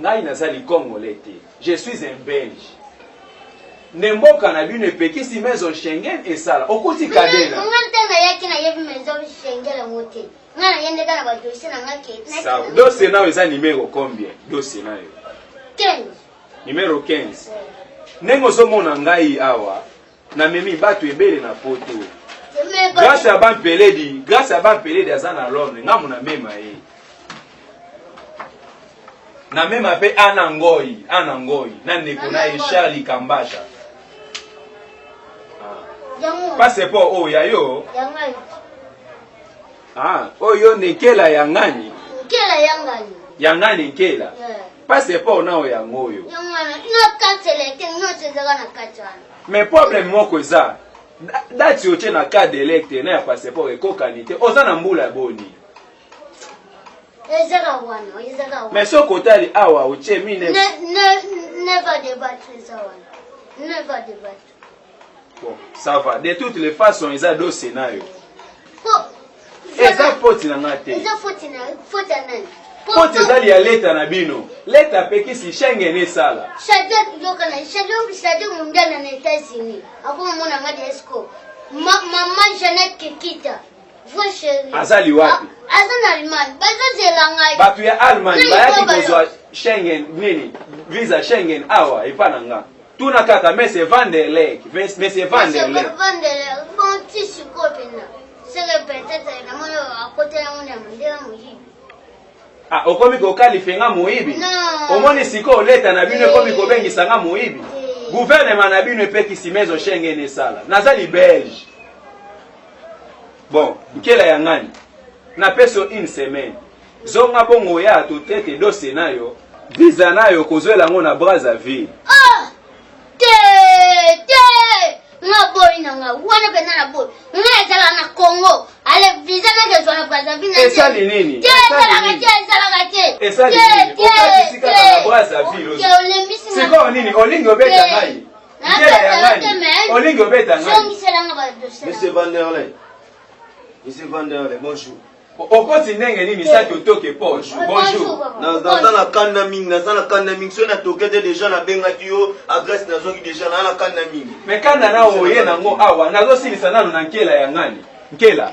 Ngai naza li congolais te je suis un belge nde mboka na bino epekisi maison Schengen esala okuti kadena. Nga nte na yaki na yebi maison Schengen yango te nga na yende ka na ba dossier na nga ke. Sawa dossier nayo eza numero combien dossier nayo? 15. Numero 15 ndenge ozomona ngai awa Na memi batu ebele na poto. Grace ya ban peledi, grace ya ban peledi aza na Londres, nga muna mema ye. Na mema pe ana ngoi, ana ngoi, na neko na ye Charlie Kambasha. Passeport oyo ya yo. Ah, oyo nekela ya ngani? Nkela ya ngani. Ya ngani nkela. Yeah. passeport nao yango oyo mais problème moko eza dati otie na cas delecte na ya passeport ekokani te oza na mbula boni mais soki otali awa otie mine Bon, ça va. De toutes les façons, ils ont deux scénarios. eza foti na nga te foti ezali ya leta na bino leta apekisi schengen esala mama jeanette kekita Vrai chéri. Azali wapi? Ah, aza na Allemagne. Bazo zela ngai. Bato ya Allemagne bayaki kozwa Schengen nini? Visa Schengen awa epa na nga. Tuna kaka Mese Van der Leck. Mese Van der Leck. Mese Van der Leck. Bon, ti sikoyo pena. Seke peut-être na mona akota yango na mondela moyibi. Ah, okomi kokalife nga moyibi? Non. Omoni sikoyo leta na bino ekomi eh. kobengisa nga moyibi? Eh. Gouvernement na bino epekisi mezo Schengen esala. Nazali belge. Bon, nkela ya ngani. Na peso une semaine. Zonga bongo ya to traite dose nayo. Visa nayo kozwela ngo na Brazzaville. Ah! Te! Te! Nga boy na nga. Wana pena na boy. Nga ezala na Congo. Ale visa na kezwa na Brazzaville. Esali nini? Te! Ezala ka te! Ezala ka te! Esali nini? Okati sika na Brazzaville. Te! Olembisi nga. Sikoyo nini? Olingi obeta ngai? olingi obeta monsieur vanderley monsieur vanderley bonjour okoti ndenge nini saki otoke poche bonjour naza na kanda mingi naza na kanda mingi soki natoke te deja nabengaki yo adresse nazwaki deja naa na kanda mingi me kanda na oye nango awa nazosilisa nano na nkela ya ngani nkela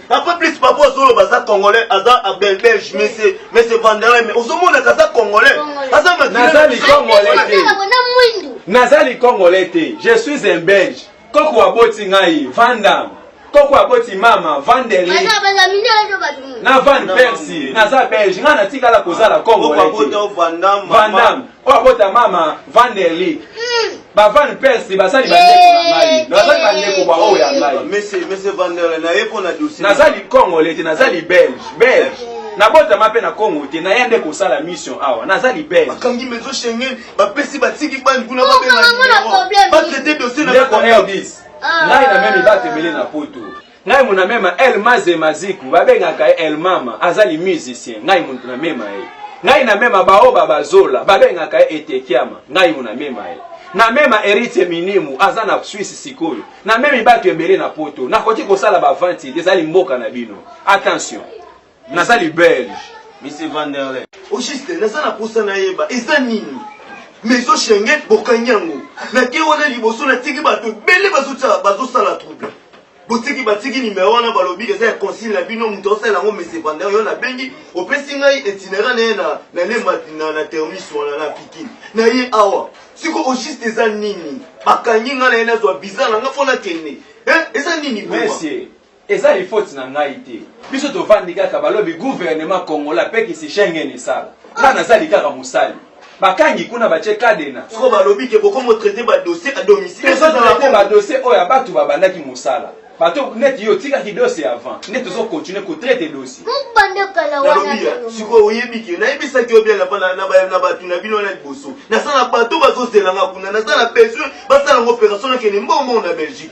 Après plus papa Zolo baza congolais aza à belge mais c'est mais c'est Vanderlei mais ozomona kaza congolais aza nazali congolais te nazali congolais te je suis un belge koko aboti ngai vandam koko aboti mama vandele na van persi naza belge ngai natikala kozala congolais vandam oyo abota mama vanderlik ba van persi basali bandeko na ngai nazali bandeko bwa oyo ya ngai nazali congole te nazali belge belge nabotama mpe na congo te na ye nde kosala mission awa nazali belgebakangi maison schengen bapesi batiki bani kuna babengabatraite dosie na 10 ngai na meme batemele na poto Ngai mona mema El Maze Maziku babengaka ye El Mama azali musicien ngai muntu na mema ye ngai na mema baoba bazola babengaka ye Etekiama ngai mona mema ye na mema Eritie Minimu aza na Suisse sikoyo na memi batu ebele na poto nakoki kosala ba vente ezali mboka na bino attention Naza li belge. Monsieur Vanderlei. Au juste naza na posa nayeba eza nini maison Schengen bokangi yango nake wana liboso natiki bato ebele bazosala trouble botiki batiki nimero wana balobi eza ya consile na bino moto aosalela yango mese vander yo nabengi opesi ngai itinera na ye na lemba na termis wana na pikini na ye awa siko ogiste eza nini bakangi ngai na ye nazwa biza na ngai mpo nakende eza nini Eza il faute na ngai te biso tovandi kaka balobi gouvernement congolais apekisi Schengen esala nga nazali kaka mosali bakangi kuna batie cadena Soko balobi ke bokomo traiter ba dossiers à domicile tozo ezala traite bongo. ba dossier oyo ya batu babandaki mosala bato neti yo otikaki dossier avant nde tozo continue ko traite dossier Humm bande kala wana Nalobi ya, tolongo. sikoyo oyebi ke nayebisaki yo bien na bana na ba- na batu na bino wana liboso. Naza na bateau bazozela nga kuna, naza na besoin basala ngo operation nakende mbongo mbongo na Belgique.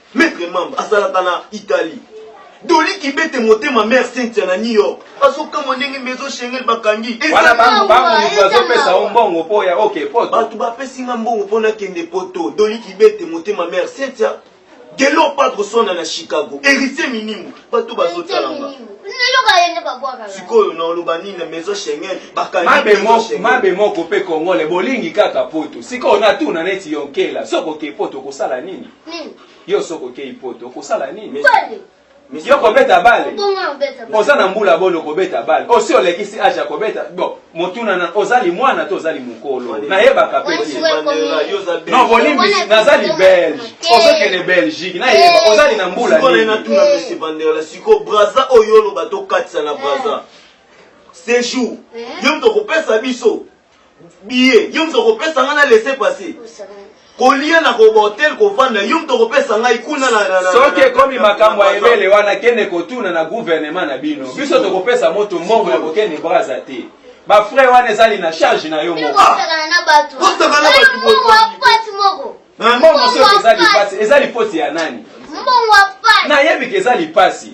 Maitre Mamba azalaka na Italie. Dolly Kibete motema mère Cynthia na New York. Azokamwa ndenge maison Schengen bakangi. Wana bangu bangu moto azopesa o mbongo po ya oke poto. Bato bapesi nga mbongo po nakende poto. Dolly Kibete motema mère Cynthia. Gelor Padre Swana na Chicago. Heritier Minimbu. Bato bazotala nga. sikoyo naoloba nini na maison schengen bakangimabe moko mpe kongole bolingi kaka poto sikoyo natuna neti yonkela soki oke poto okosala nini Yo soki okeyi poto okosala nini? Yo kobeta bale? Oza na mbula boni okobeta bale? Osi olekisi age ya kobeta? Bon, motuna na oza limwana to oza limukolo? Nayebaka pe te. Non, bolimbisi naza li belge. Ozokende Belgique nayeba ozali na mbula nini? Natuna monsieur Bandela siko Brazza oyo oloba tokatisa na Brazza. Sejour. Yo moto okopesa biso. billet yo moto okopesa ngai na laisser passer kolia na kobotel kovanda yo moto okopesa ngai kuna soki ekomi makambo ya ebele wana kende kotuna na guvernema na bino biso tokopesa moto mbongo ya kokende braza te bafrai wana ezali na charge na yo moko mbongo soki eza lipasi eza lipoti ya nani nayebi ke eza lipasi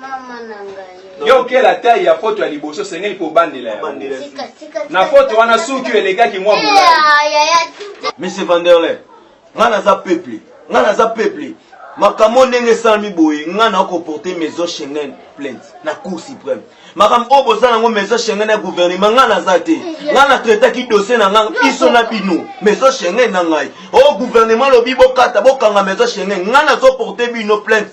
Mama na ngai. Yo okela taille ya foto ya liboso sengeli ko bandela ya. Tika tika. Na foto wana suki elekaki mwa eh, mula. Ah, Monsieur Vanderlei, nga naza peuple, nga naza peuple. makambo ndenge esalami boye ngai na koporte maison schengen plainte na cour suprême makambo oyo boza nango maison schengen ya gouvernement ngai naza te ngai na traitaki dossier na ngai biso na bino maison schengen na ngai o oh, gouvernement lobi bokata bokanga maison schengen ngai nazoporte bino plainte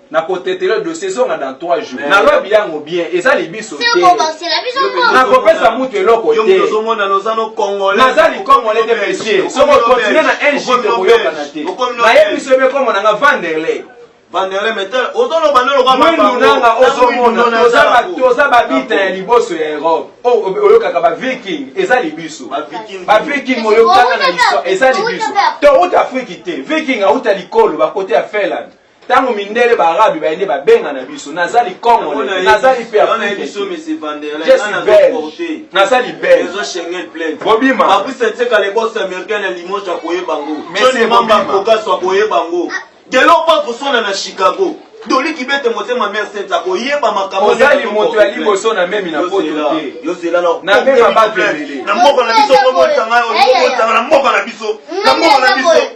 na kotetela dossier ezonga dans 3 jours na lobi yango bien eza libiso te na kopesa mutu eloko te naza likongole te monsieur soko continue na un jour tokoyokana te nayebi biso ebe kombo nanga vanderley mwendunanga ozomona toza babita ya liboso ya europe oh, oyokaka baviking eza libiso baviking oyokaka na histoire eza libiso touta afriki te viking auta likolo bakote ya finlande Tango mindele ba arabe baye nde ba benga na biso naza li congolais naza li pe africain je suis belge naza li belge bobima babusa nseka le boss américain na limoges akoyeba ngo joni mamba kokaso akoyeba ngo delo pa koswana na chicago doli kibete motema mare sente akoyeba makambo ozali moto ya liboso na memi na poto te na mema bato ebele na mboka na biso okomolisanga okomolisanga na mboka na biso na mboka na biso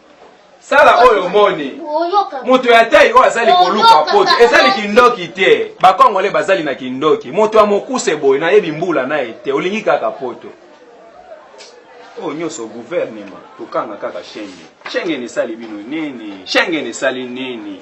sala oyo omoni moto ya tai oyo azali koluka poto ezali kindoki te bakongole bazali na kindoki moto ya mokuse boye nayebi mbula na ye te olingi kaka poto oyo oh, nyonso guvernema kokanga kaka shenge shengeni esali bino nini shengeni esali nini